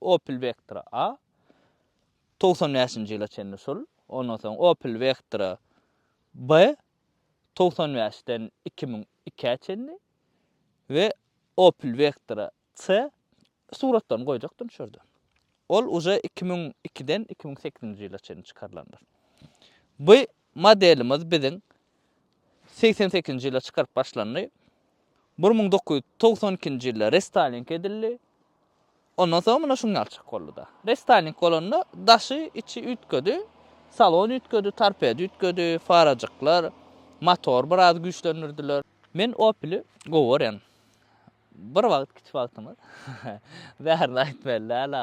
Opel Vectra A togsan bäşinji ýyla çenli şul, ondan soň Opel Vectra B togsan bäşden iki müň ikä çenli we Opel Vectra C suratlaryny goýjakdym şu ýerde. Ol uje iki müň ikiden iki müň sekizinji ýyla çenli çykarylandyr. Bu Modelimiz biziň segsen sekizinji ýylda çykaryp başlandy. Bir müň dokuz ýüz togsan ikinji ýylda restoling edildi. Ondan soň muna şuň ýaly çykyp boldy-da. Restoling bolanda daşy, içi üýtgedi. Salon üýtgedi, torped üýtgedi, farajyklar, motor biraz güýçlendirdiler. Men Opel-i gowy görýän. Bir wagt kiçi wagtymyz. Bärini aýtmaly däl-ä.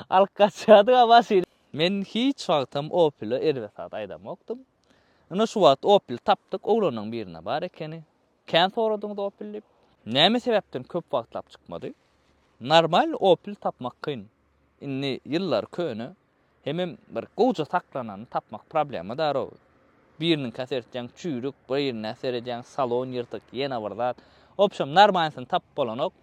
Alyp gaçýardyga maşyny. Men hiç wagtam Opele erbet zat aýdamokdym. Ine şu wagt Opel tapdyk, oglanyň birinde bar ekeni. Kän soradyňyz Opel diýip. Näme sebäpden köp wagtlap çykmady? Normal Opel tapmak kyn. Indi ýyllary köne. Hemem bir gowja saklanany tapmak problema darowy. Biriniňkä seretýäň çüýrük, birine seredýäň salon ýyrtyk, ýene bir zat. Obşem normalnysyny tapyp bolanok.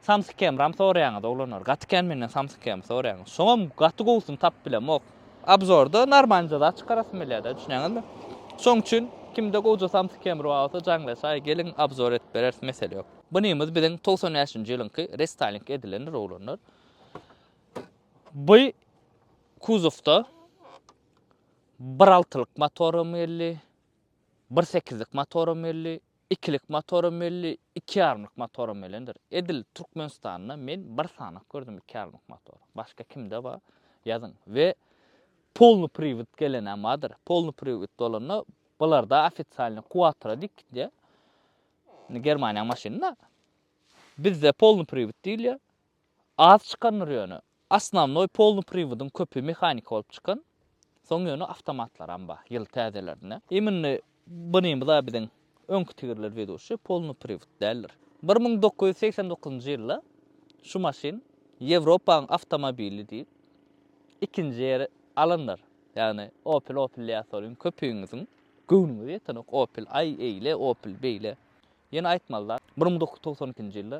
Samsyk kemram soraýaňyz oglanlar gaty kän menden samsyk kemr soraýaňyz şoňam gaty gowusyny tapyp bilemok abzorda narmalnyja zat çykarasym gelýärda düşünýäňizmi şoň üçin kimde gowja samsyk kemri bar bolsa jaňlaýa çaý geliň abzor edip bereris mesele ýok bunymyz biziň togsan bäşinji ýylyňky restaýling edilendir oglanlar bu kuzowda bir altylyk motoram geldi bir sekizlik motoram geldi Ikilik motoram belli, iki ýarymlyk motoram belendir. Edil Türkmenistanda men bir sanak gördüm iki ýarymlyk motor. Başga kimde bar? Ýazyň. We polny priwod gelenäm bardyr. Polny priwod bolanda bularda ofisialny kuwatra diýip gitýär. Indi Germaniýaň maşyny-da. Bizde polny priwod diýilýär. Az çykandyr ýöne. Asnawnoý polny priwodyň köpi mehanika bolup çykan. Soň ýöne awtomatlaram bar ýyl täzelerine. Immini bynymyz a biziň öňki tigirler weduşi polny priwod däldir. Bir müň dokuz ýüz segsen dokuzynjy ýylda şu maşyn Ýewropaň awtomobili diýip ikinji ýeri alandyr. Ýagny opel opel diýäsolyň köpüňiziň göwnüňize ýetenok opel aý eýle opel beýle. Ýene aýtmaly zat bir müň dokuz ýüz togsan ikinji ýylda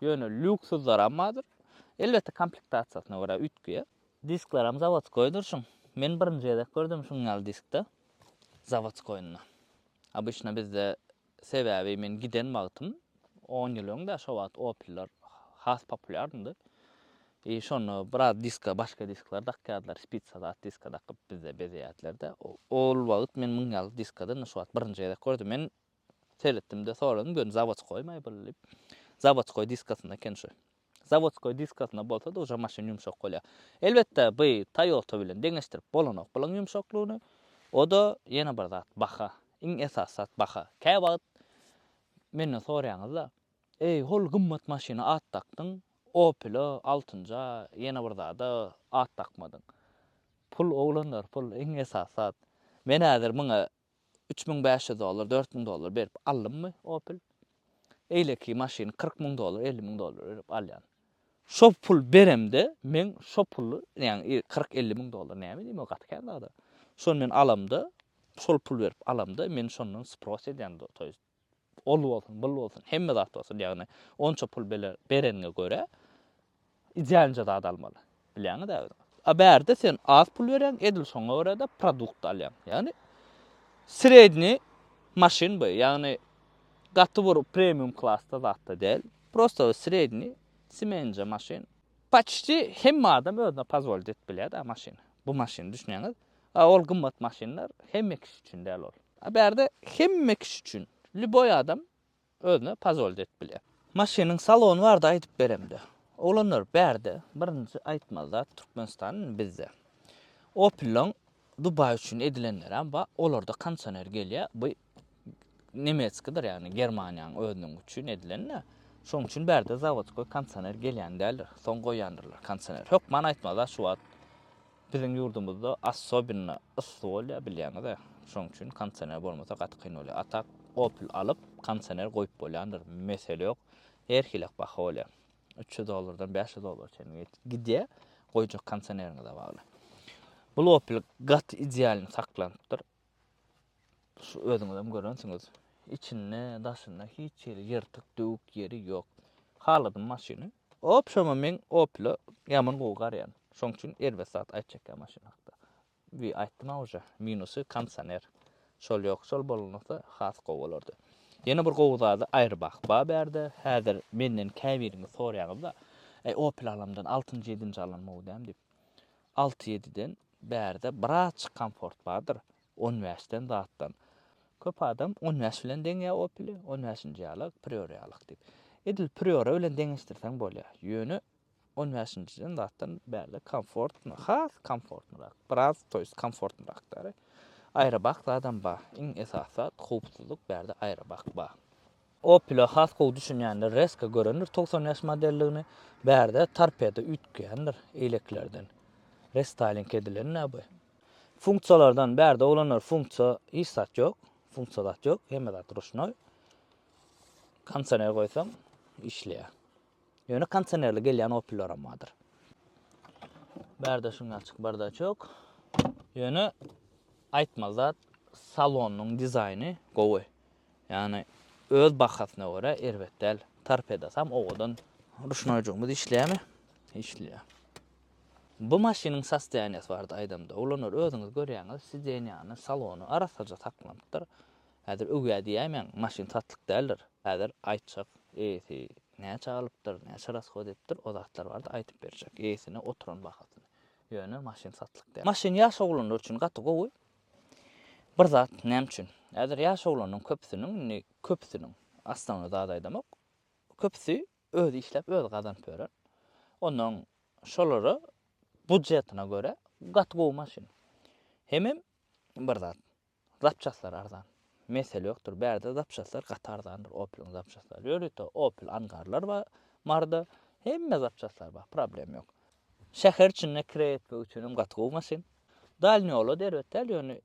Ýöne lýuksuzlaram bardyr. Elbetde komplektasiýasyna görä üýtgeýär. Disklaram zawodskoýdyr şuň. Men birinji gezek gördüm şuň ýaly diskde zawodskoýyny. Obyçna bizde sebäbi men giden wagtym on ýyl öňde şo wagt opellar has populýarndy. I şonda biraz diska başga diskler dakýardylar spitsa zat diska dakyp bizde bezeýärdiler-de. Ol wagt men muň ýaly diskada indi şu wagt birinji gezek gördüm. Men Seretdim-de, soradym, gördüm zawodskoýmy bul diýip. Zawodskoý diskasyna eken şu. Zawodskoý diskasyna bolsa-da uje maşyn ýumşak bolýar. Elbetde, bu Toyota bilen deňeşdirip bolanok bulaň ýumşaklygyny. O-da ýene bir zat, baha. Iň esasy zat baha. Käwagt menden soraýaňyz-da, Eý, hol gymmat maşyna at dakdyň, Opel-a, altynja, ýene bir zada at dakmadyň. Pul oglanlar, pul, iň esasy zat. Men häzir muňa üç müň bäş ýüz dollar, dört müň dollar berip aldymmy Opel? Eýleki maşyny kyrk müň dollar, elli müň dollar berip alýan. Şo pul beremde men şo puly, ýagny kyrk, elli müň dollar näme edeyim o gaty kän zada. Şony men alamda, şol pul berip alamda men şondan spross edýän, to ýest Ol bolsun, bul bolsun, hemme zat bolsun, ýagny onça pul bereniňe görä, idealnje zat almaly. Bilýäňiz-ä özüňiz. A bärde sen az pul berýäň, edil şoňa görä-de produkt alýaň. Ýagny srednýi maşyn bu, ýagny gaty bir premium klasda zat-da däl. Prosta srednýi semenje maşyn. Paçti hemme adam özüne pozwolit edip bilýär-dä maşyny. Bu maşyny, düşünýäňiz? A ol gymmat maşynlar hemme kişi üçin däl ol. A bärde hemme kişi üçin lýuboý adam özüne pazolt edip bilýär. Maşynyň salony barada aýdyp beremde. Oglanlar bärde birinji aýtmaly zat Türkmenistan indi bizde. Opel-laň Dubaý üçin edilenlerem bar olarda kondisioner gelýär bu nemetskidir ýagny germaniýanyň özüniň üçin edilende şonuň üçin bärde zawodskoý kondisioner gelýän däldir soň goýýandyrlar kondisioner hökman aýtmazlar şu wagt biziň ýurdumyzda assobinna yssy bolýar bilýäňiz e şonuň üçin kondisioner bolmasa gaty kyn bolýar a tak opl alyp kondisioner goýup bolýandyr mesele ýok her hili baha bolýar üç ýüz dollardan bäş ýüz dollara çenli gidýär goýjak kondisioneriňize bagly bu opl gaty idealny saklanypdyr Şu özüňizem görensiňiz. Içinde, daşynda hiç ýeri ýyrtyk, döwük ýeri ýok. Haladym maşyny. Hop şoňa men Opel-e ýaman gowy garýan. Şoň üçin erbet zat aýt çekýän maşyn hakda. Bi aýtdym-a uje. Minusy kondisioner. Şol ýok. Şol bolunsa has gowy bolardy. Ýene bir gowy zady Airbag bar bärde. Häzir menden käbiriňiz soraýaňyz-da, Äý Opel alamdan altynjy, ýedinji alan gowy däm diýip. Alty-ýediden bärde birazjyk komfort bardyr, on bäşden zatdan. Köp adam on bäş bilen deňýär Opel-i, on bäşinji ýalyk, Prior ýalyk diýip. Edil Prior bilen deňeşdirseň bolýar. Ýöne on bäşinjiden zatdan bärde komfortny, has komfortnyrak, biraz to ýest komfortnyrak däri. Aýrybak zadam bar. Iň esasy zat howpsuzlyk bärde aýrybak bar. Opel-e has gowy düşünýänler Reska görendir togsan bäş modelligini, bärde torpedo üýtgeýändir eýleklerden. Restyling edilen-dä bu. Funksiýalardan bärde oglanlar funksiýa hiç zat ýok, funksiýa zat ýok, hemme zat ruşnoý. Kondisioner goýsaň işleýär. Ýöne kondisionerli gelýän Opellaram bardyr. Bärde şuň ýaly çykyp bardaç ýok. Ýöne aýtmaly zat salonyň dizaýny gowy. Ýagny öz bahasyna görä erbet däl. Torpedasam owadan. Ruşnoýjygymyz işleýärmi? Işleýär. Bu maşynyň sostoýaniýasy barada aýdamda, ulanary özüňiz görýäňiz, sidenýany, salony arassaja saklanypdyr. Häzir öwýär diýäýmäň, maşyn satlyk däldir. Häzir aýtjak, eýesi näçä alypdyr, näçe rashod edipdir, o zatlar barada aýdyp berjek, eýesine oturan bahasyny. Ýöne maşyn satlyk däl. Maşyn ýaş oglanlar üçin gaty gowy. Bir zat, näme üçin? Häzir ýaş oglanlaryň köpüsiniň, indi köpüsiniň, aslyny zat aýdamok, köpüsi özi işläp, özi gazanyp ýören. Onnoň şolara budjetine görä gaty gowy maşyn. Hemem bir zat, zapçastlary arzan. Mesele ýokdur, bärde zapçastlar gaty arzandyr, Opel-iň zapçastlary. Ýörite Opel angarlar bar, Marda hemme zapçastlar bar, problem ýok. Şäher içinde kire etmek üçinem gaty gowy maşyn. Dalnýola da erbet däl, ýöne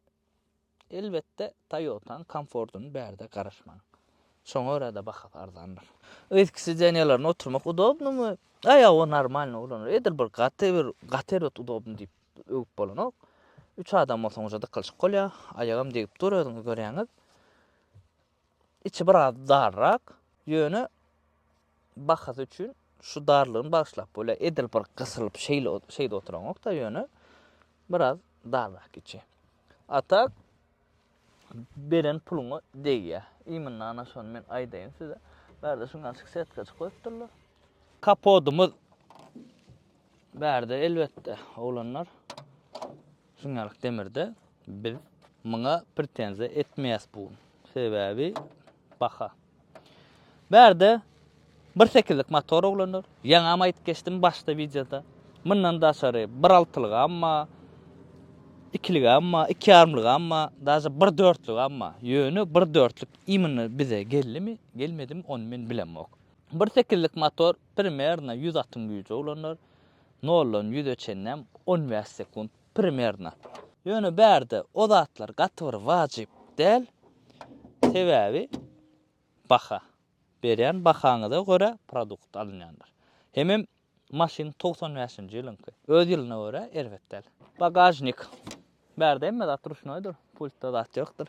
elbetde Toyota-nyň komfortyny bärde garaşmaň. Şoňa görä-de bahasy arzandyr. Yzky sidenýalarynda oturmak udobnymy? Aýaga normalny ulanylýar. Edil bir gaty bir gaty erbet udobny diýip öwüp bolanok. Üç adam bolsaňyzja dykylyşyk bolýar. Aýagam degip dur özüňiz görýäňiz. Içi biraz darrak, ýöne bahasy üçin şu darlygyny bagyşlap bolýar. Edil bir gysylyp şeýle şeýde oturaňok-da, ýöne biraz darrak içi. A tak beren puluňa degýär. Imynda ana şony men aýdaýyn size. Bärde şuň açyk setkajyk goýupdyrlar. Kapodymyz bärde elbetde oglanlar. Sungaryk Demirde biz muňa pretenziýa etmeýäs bu gün. Sebäbi baha. Bärde bir sekizlik motor oglanlar. Ýaňam aýdyp geçdim başda wideoda. Mundan daşary bir altylygam bar, ikiligam bar, iki ýarymlygam bar, daže bir dörtlügem bar. Ýöne bir dörtlük imенно bize geldimi, gelmedimi ony men bilemok. Bir sekizlik motor primerno ýüz atyň güýji oglanlar. Noldan ýüze çenlem on bäş sekunt primerno. Ýöne bärde o zatlar gaty bir wajyp däl. Sebäbi baha. Berýän bahaňyza görä produkt alynýandyr. Hemem maşyn togsan bäşinji ýylyňky. Öz ýylyna görä erbet däl. Bagažnik. Bärde hemme zat ruşnoýdyr. Pultda zat ýokdur.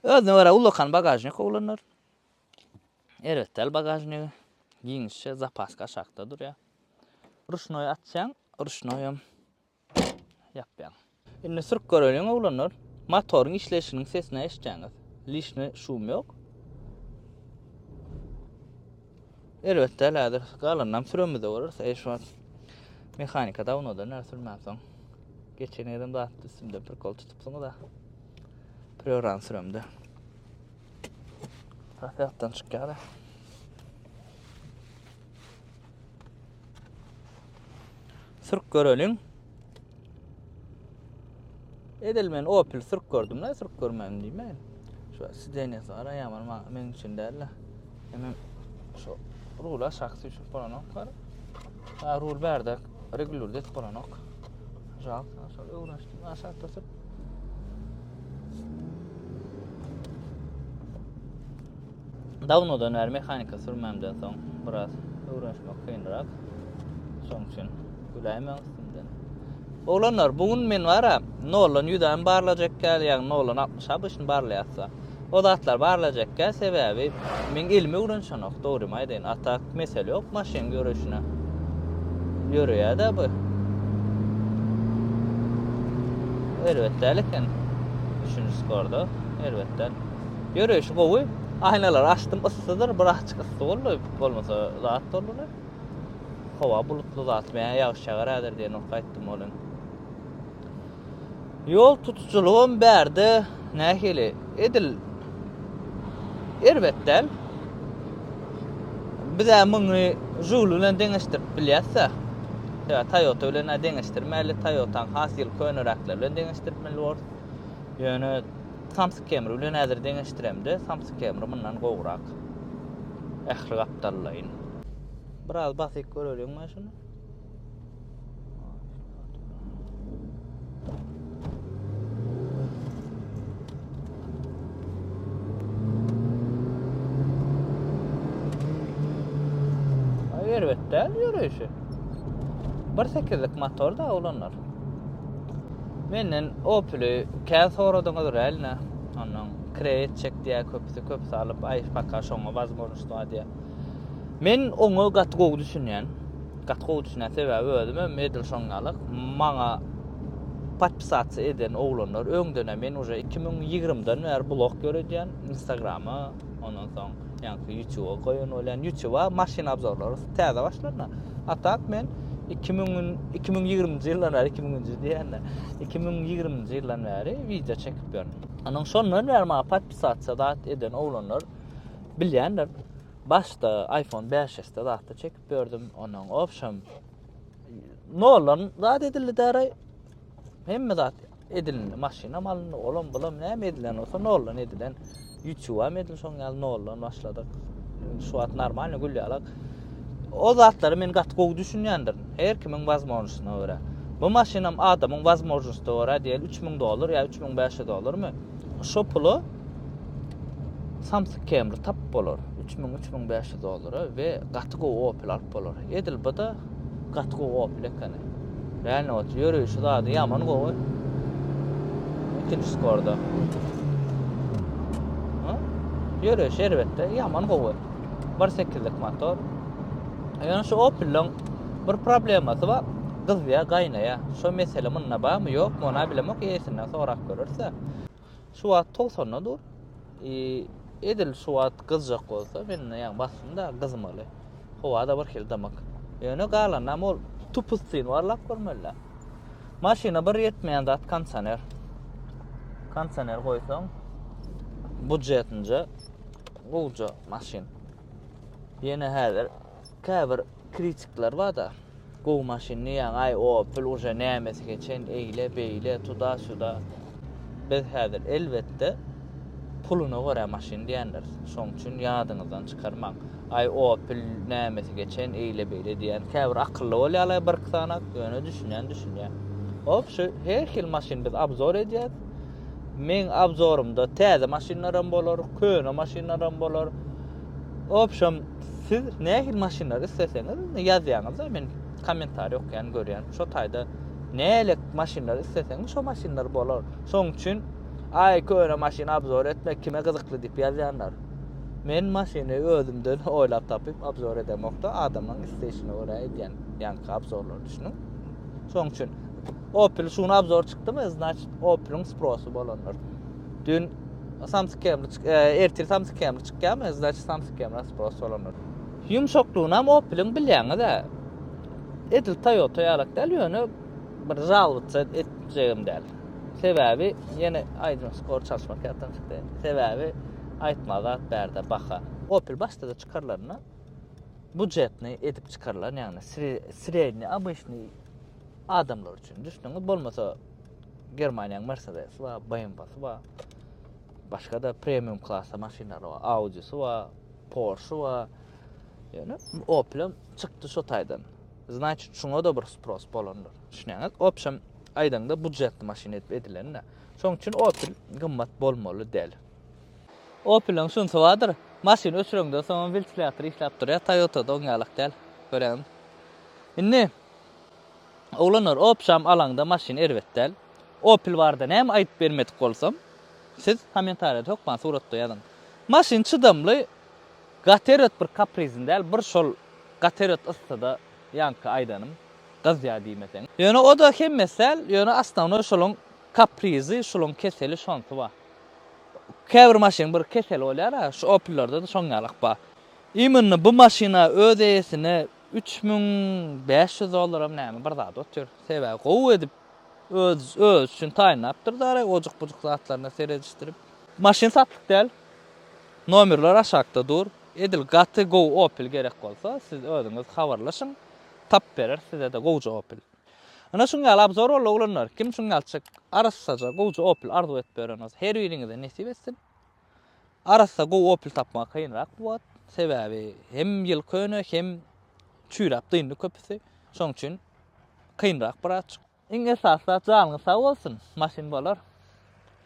Özüne görä ullakan bagažnik ulanylýar. Erbet däl bagažnigi giňişje zapaska aşakda durýar. Ruşnoý açýaň, ruşnoýam ýapýaň. Indi sürüp göreliň oglanlar. Motoryň işleýşiniň sesini eşitjäňiz. Lişni şum ýok. Erbet däl häzir galanynam süremizde görüris. Eý şu wagt mehanika dawnoda näme sürmänsoň. Geçen gezem zat üstümde prikol tutupsyňyz-a. Prýorany süremde. Hakykatdan çykýar. Sürk göreliň. Edil men Opel sürk gördüm da, sürk görmem diýmen. Şu sidenýe sara ýaman maňa men üçin däl. Hemen şu rula şahsy üçin bolanok bar. Ha rul berde regulýur det bolanok. Jal, şol öwrenişdim. Aşakda sürk Dawnodan bäri mehanika sürmämden soň biraz öwrenişmek kynrak. Şoň üçin güläýmäň üstümden. Oglanlar, bu gün men bara noldan 100 äm barlajak ýaly, ýagny noldan 60 abyşyny barlaýarsa. O zatlary barlajakka sebäbi meň elime öwrenşenok dogrymy aýdaýyn a tak mesele ýok maşyn göreşine ýöreýäda bu erbet däl eken üçünji sporda erbet däl ýöreýşi gowy aýnalary açdym yssydyr birazçyk yssy boldy bolmasa zat boldy howa bulutly zat men ýagyş ýagar häzir diýen ok aýtdym olam Ýol tutujylygam bärde nähili? Edil erbet däl. Biz-ä muny Žul bilen deňeşdirip bilýäs-dä. Sebäbi Toyota bilen-ä deňeşdirmäli, Toyota-nyň has ýyl köneräkleri bilen deňeşdirip bilmeli borus. Ýöne Samsung Camry bilen häzir deňeşdiremde, Samsung Camry mundan gowrak. Ähli gapdallaýyn. Biraz basyp göreliň-le şuny. Erbetden yürüyüşü. Bir sekizlik motor da olanlar. Menden Opel'i kän soradyňyz realno. Ondan kreyet çek diýä köpüsi köp salyp ay paka şoňa wazmornuşda diýä. Men oňa gaty gowy düşünýän. Gaty gowy düşünýän sebäbi özüm hem edil şoň ýaly maňa podpisatsiýa eden oglanlar öňdene men uje iki müň ýigrimden bäri blog ýöredýän instagrama ondan soň ýaňky ýutuba goýan bolýan ýutuba maşyn obzorlary täze başlanda a tak men iki müň iki müň ýigriminji ýyldan bäri iki müňünji diýende iki müň ýigriminji ýyldan bäri wideo çekip ýörün onuň şondan bäri maňa podpisatsiýa dat eden oglanlar bilýändir başda iphone beş s de zatda çekip aýdyp berdim onuň. Obşem noldan zat edildi däre. Hemme zat edildi. Maşynam alyndy, olam bulam näme edilen bolsa noldan edilen. YouTube hem edil şoň ýaly noldan başladyk. Şu wagt normalny gül ýalak. O zatlary men gaty gowy düşünýändir. Her kimiň wazmožnostyna görä. Bu maşynam adamyň wazmožnostyna görä diýeli 3000 dollar ýa 3500 dollarmy? Şo pula Samsyk Camry tapyp bolar üç müň, üç müň bäş ýüz dollara we gaty gowy Opel alyp bolar. Edil bu-da gaty gowy Opel ekeni. Real note ýörüşi zady ýaman gowy. Ikinji skorda. Ha? Ýörüşi erbetde ýaman gowy. 1.8-lik motor. Ýöne şu Opel-iň bir problemasy bar. Gyzýa, gaýnaýa. Şo mesele munda barmy, ýokmy, ony bilemok, eýesinden sorap görersiz. Şu wagt togsanda dur. E, edil şu wagt gyzjak bolsa, men ýaňy basdym da gyzmaly. Howa-da birhili dymyk. Ýöne galanam ol tupustin barlap görmeli. Maşyna bir ýetmeýän zat kondisioner. Kondisioner goýsaň, budjetinje gowja maşyn. Ýene häzir Käbir kritikler barda gowy maşynny ýaňy aý opel uje nämesi geçen eýle beýle tuda suda biz häzir elbetde puluna görä maşyn diýendiris şoň üçin ýadyňyzdan çykarmaň aý opel nämesi geçen eýle beýle diýen käbir akylly bolýarlar birki sanat ýöne düşünýän düşünýär hop şu her hil maşyn biz abzor edýäs meň abzorumda täze maşynlaram bolar köne maşynlaram bolar Obşem siz nähili maşynlary isleseňiz ýazýaňyzda men kommentariý okaýan görýän şo taýda nälik maşynlary isleseňiz şo maşynlar bolar şoň üçin aý köne maşyn abzor etmek kime gyzykly diýip ýazýanlar men maşyny özümden oýlap tapyp abzor edemokda adamlaryň isleýşine görä edýän ýaňky abzorlary düşüniň şoň üçin opel şuny abzor çykdymy znaçt opeliň sprosy bolandyr Dün Samsung Camera çyk, e, ertir Samsung Camera çykýarmy? Значит, Samsung Camera spas bolandyr. Ýumşaklygyny hem Opel-iň bilýäňiz-ä. Edil Toyota ýalak däl, ýöne bir žalowatsa etjegim däl. Sebäbi ýene aýdyň skor çalyşmak ýatdan çykdy. Sebäbi aýtma zat bärde baha. Opel başda-da çykarylanda budjetni edip çykarylan, ýagny sredni, obýektni adamlar üçin, düşdüňiz? Bolmasa Germaniýanyň Mercedes-i bar, BMW-si bar. Başga-da premium klasda maşynlary bar. Audi-si bar, Porsche-i bar. Ýöne Opel-em çykdy şo taýdan. Значит, şuňa-da bir spros bolandyr. Düşünýäňiz? Obşem, aýdaňda budjetli maşyn edip edilen-de. Şonuň üçin Opel gymmat bolmaly däl. Opel-iň şunsy bardyr, maşyny öçüreňden soňam wiltilator işläp durýar, Toyota-da oň ýalak däl. Görýäňizmi? Indi Oglanlar opjam alaňda maşyn erbet däl. Opel barada näme aýdyp bermedik bolsam siz komentarýada hökman suratda ýazyň. Maşyn çydamly gaterot bir kaprizin däl bir şol gaterot yssyda ýaňky aýdanym gyzýa diýmeseň. Ýöne oda hemmesi däl ýöne osnownoý şolaň kaprizi şulaň keseli şonsy bar. Käbir maşynyň bir keseli bolýara şu opellarda-da şoň ýalak bar. Imynny bu maşyna öz eýesine Üç müň bäş ýüz dollaram näme bir zat otyr. Sebäbi gowy edip öz özi üçin taýynlapdyr dary ojukbujuk zatlaryna seredişdirip. Maşyn satlyk däl. Nomerler aşakda dur. Edil gaty gowy opel gerek bolsa siz özüňiz habarlaşyň tapyp bereris sizede gowja opel. Ine şuň ýaly abzor boldy oglanlar kim şuň ýalçyk arassaja gowja opel arzuw edip ýören bolsa her biriňize nesip etsin. Arassa gowy opel tapmak kynrak bu wagt. Sebäbi hem ýyl köne hem çüýräp dyndy köpüsi. Şoň üçin kynrak birazçyk. Iň esasy zat janyňyz sag bolsun, maşyn bolar.